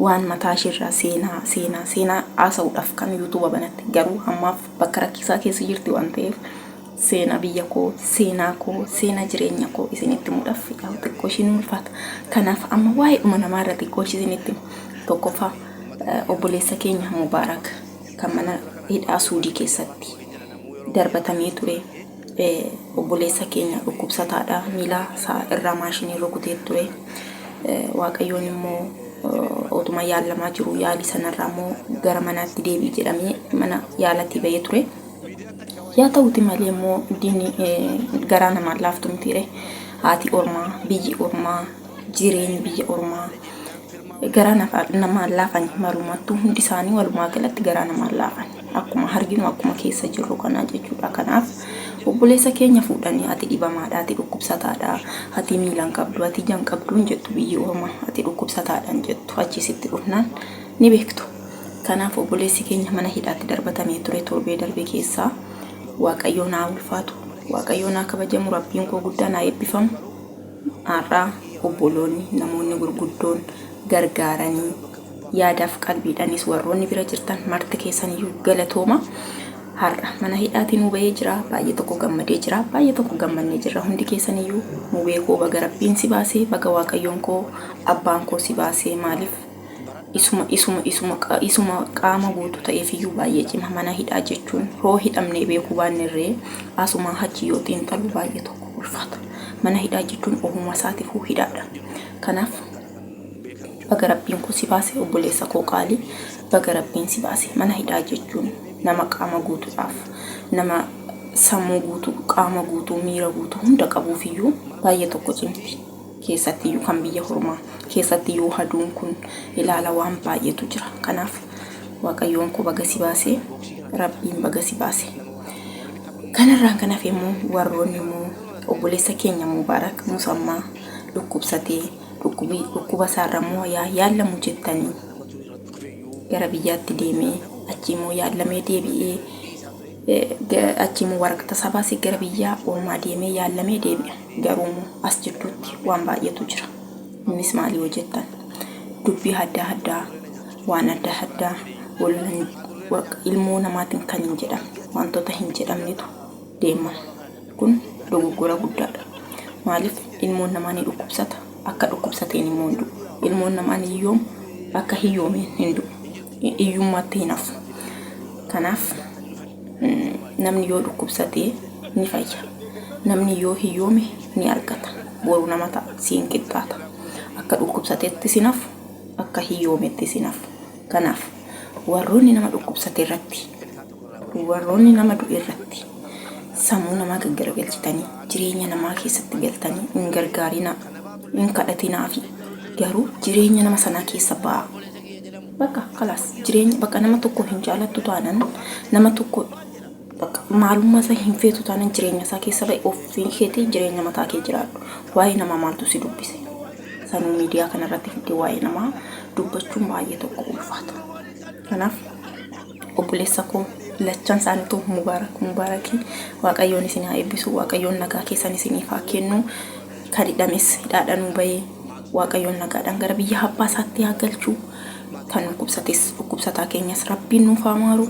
Waan mataa ishee irraa seenaa seenaa seenaa haasa'uudhaaf kan YouTube banatte. Garuu hammaaf bakka rakkisaa keessa jirti waan ta'eef seenaa biyya koo, seenaa koo, seenaa jireenya koo isinitti himuudhaaf yaa'u xiqqoo ishii ni ulfaata. Kanaaf amma waa'ee dhuma namaa irra xiqqoo ishii isinitti hima. Tokkoffaa eh, obboleessa keenya Mubaarak kan mana hidhaa Suudii keessatti darbatamee ture. obboleessa keenya dhukkubsataadha. Miila isaa irraa maashiniin rukutee ture. Waaqayyoon immoo otuma yaalamaa jiru yaalii sanarraa immoo gara manaatti deebi'i jedhamee mana yaalatii ba'ee ture. Yaa ta'uti malee immoo diinni garaa namaan laaftu mitiire. Haati ormaa, biyyi ormaa, jireenyi biyya ormaa garaa namaan laafan marumattuu hundi isaanii walumaa galatti garaa namaan laafan. akkuma arginu akkuma keessa jirru kanaa jechuudha kanaaf obboleessa keenya fuudhanii ati dhibamaadha ati dhukkubsataadha ati miilan qabdu ati jan qabduun jettu biyyi orma ati dhukkubsataadhan jettu achisitti dhufnaan ni beektu kanaaf obboleessi keenya mana hidhaatti darbatamee ture torbee darbe keessaa waaqayyoon haa ulfaatu waaqayyoon haa kabajamu rabbiin koo guddaan haa eebbifamu Har'a obboloonni, namoonni gurguddoon, gargaaranii, yaadaaf qalbiidhanis warroonni bira jirtan marti keessaniyyuu galatooma. Har'a mana hidhaatii nuu bahee jira, baay'ee tokko gammadee jira, baay'ee tokko gammannee jirra. Hundi keessaniyyuu mubee koo baga rabbiin si baasee, baga waaqayyoon koo abbaan koo si baasee maaliif isuma isuma isuma isuma qaama guutu ta'eefiyyuu baay'ee cima mana hidhaa jechuun hoo hidhamnee beekuu baannerree asumaa hachi yoo xiinxalu baay'ee tokko ulfaata mana hidhaa jechuun ohuma isaatifuu hidhaadha kanaaf baga rabbiin kun si baase obboleessa koo qaalii baga rabbiin si baase mana hidhaa jechuun nama qaama guutuudhaaf nama sammuu guutuu qaama guutuu miira guutuu hunda qabuufiyyuu baay'ee tokko cimti keessattiyyuu kan biyya hormaa keessatti yoo haduun kun ilaala waan baay'eetu jira kanaaf waaqayyoon koo baga si baasee rabbiin baga si baase kanarraan kan hafe immoo warroonni immoo obboleessa keenya mubaarak musammaa dhukkubsatee dhukkubi dhukkuba isaarra immoo yaa yaallamu jettanii gara biyyaatti deemee achii immoo yaallamee deebi'ee eh, ga- achii immoo waraqata isaa baasee gara biyyaa ormaa deemee yaallamee deebi'a Garuumoo as jidduutti waan baay'eetu jira. Innis maali yoo jettan dubbii adda addaa waan adda addaa ollan waqa ilmoo namaatiin kan hin jedhamne wantoota hin jedhamnetu deema. Kun dogoggora guddaadha. Maaliif ilmoon namaa ni dhukkubsata akka dhukkubsateen immoo hin du'u. Ilmoon namaa ni hiyyooma akka hiyyoomeen hin du'u. Hiyyummaatti hin hafu. Kanaaf Namni yoo dhukkubsate ni fayya. Namni yoo hiyyoome ni argata. Boru nama ta'a, siin qixxaata. Akka dhukkubsatetti sin hafu, akka hiyyoometti sin hafu. Kanaaf warroonni nama dhukkubsate irratti, warroonni nama du'e irratti sammuu namaa gaggaragalchitanii jireenya namaa keessatti galtanii hin gargaarinaa, hin kadhatinaafi. Garuu jireenya nama sanaa keessa ba'aa. Bakka kalaas jireenya bakka nama tokko hin jaalattu taanan nama tokko bakka maalummaa isaa hin feetu taanan jireenya isaa keessa bahe ofii keetii jireenya mataa kee jiraadhu. Waa'ee namaa maaltu si dubbise? Sanuu miidiyaa kana irratti fiddee waa'ee namaa dubbachuun baay'ee tokko ulfaata. Kanaaf obboleessa koo lachan isaaniitu mubaarak mubaarakii waaqayyoon isin haa eebbisu waaqayyoon nagaa keessan isiniif haa kennu. kan hidhames hidhaadhanuu bahee waaqayyoon nagaadhaan gara biyya abbaa isaatti haa galchuu kan dhukkubsates dhukkubsataa keenyas rabbiin nuuf haa maaru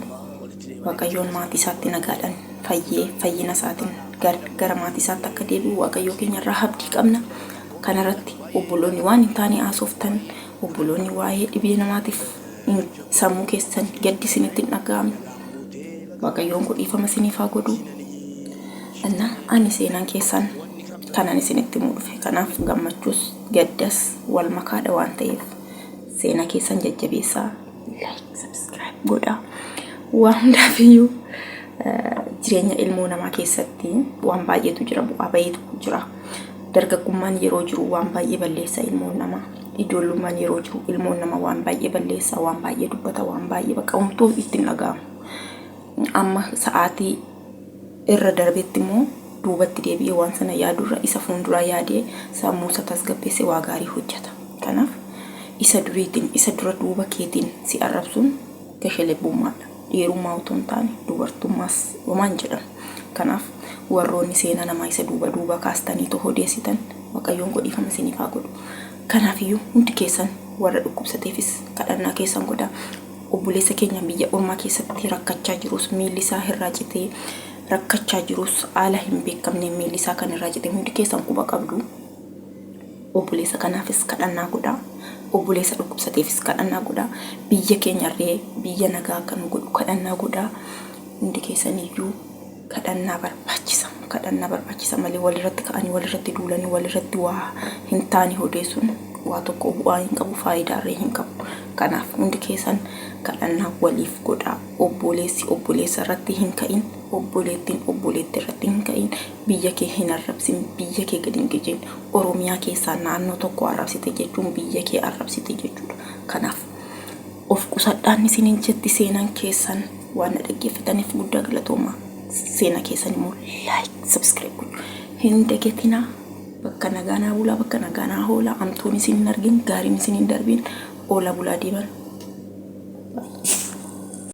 waaqayyoon maatii isaatti nagaadhaan fayyee fayyina isaatiin gar- gara maatii isaatti akka deebi'u waaqayyoo keenya irraa abdii qabna kanarratti obboloonni waan hin taane haasoftan Obboloonni waa'ee dhibee namaatiif in sammuu keessan gaddi isinitti hin dhaga'amu. Waaqayyoon koo dhiifama isiniif haa godhu. Innaa ani seenaan keessan kanan isinitti himuu dhufe kanaaf gammachuus gaddas wal makaadha waan ta'eef seenaa keessan jajjabeessaa like subscribe godhaa waa hundaaf iyyuu eh, jireenya ilmoo namaa keessatti waan baay'eetu jira bu'aa baay'eetu jira Dargaggummaan yeroo jiru waan baay'ee balleessa ilmoon namaa. Ijoollummaan yeroo jiru ilmoon namaa waan baay'ee balleessa, waan baay'ee dubbata, waan baay'ee bakka homtuu itti hin dhaga'amu. Amma sa'aatii irra darbetti immoo duubatti deebi'ee waan sana yaadurra isa fuulduraa yaadee sammuu isa tasgabbeesse waa gaarii hojjeta. Kanaaf isa duriitiin isa dura duuba keetiin si arrabsuun gashe lebbummaadha. Dhiirummaa utuu hin taane dubartummaas dhumaan jedhamu. Kanaaf warroonni seenaa namaa isa duuba duuba kaastaniitoo hodeessitan Waaqayyoon koo dhiifama isiniif haa godhu. Kanaaf iyyuu hundi keessan warra dhukkubsateefis kadhannaa keessan godhaa. Obboleessa keenya biyya ormaa keessatti rakkachaa jirus miilli isaa irraa citee rakkachaa jirus haala hin beekamneen miilli isaa kan irraa cite hundi keessan quba qabdu. Obboleessa kanaafis kadhannaa godhaa. Obboleessa dhukkubsateefis kadhannaa godhaa. Biyya keenyarree biyya nagaa akka nu godhu kadhannaa godhaa. Hundi keessaniyyuu kadhannaa barbaachisa. Kadhannaa barbaachisa malee walirratti ka'anii walirratti duulanii walirratti waa hin taane odeessuun waa tokko bu'aa hin qabu faayidaarree hin qabu. Kanaaf hundi keessan kadhannaa waliif godhaa. Obboleessi obboleessa irratti hin ka'in. Obboleettiin obboleetti irratti hin ka'in. Biyya kee hin arrabsin, biyya kee gad hin qicin. Oromiyaa keessaa naannoo tokko arrabsite jechuun biyya kee arrabsite jechuudha. Kanaaf, of qusadhaan isiniin jetti seenaan keessan. Waan na dhaggeeffataniif guddaa galatoomaa. Seenaa keessan immoo like, subscribe gochuu hin dagatinaa. Bakka nagaa naa bulaa, bakka nagaa naa hoolaa. Amtuun isin hin argin, gaariin isin hin darbin. Oola bulaa deeman.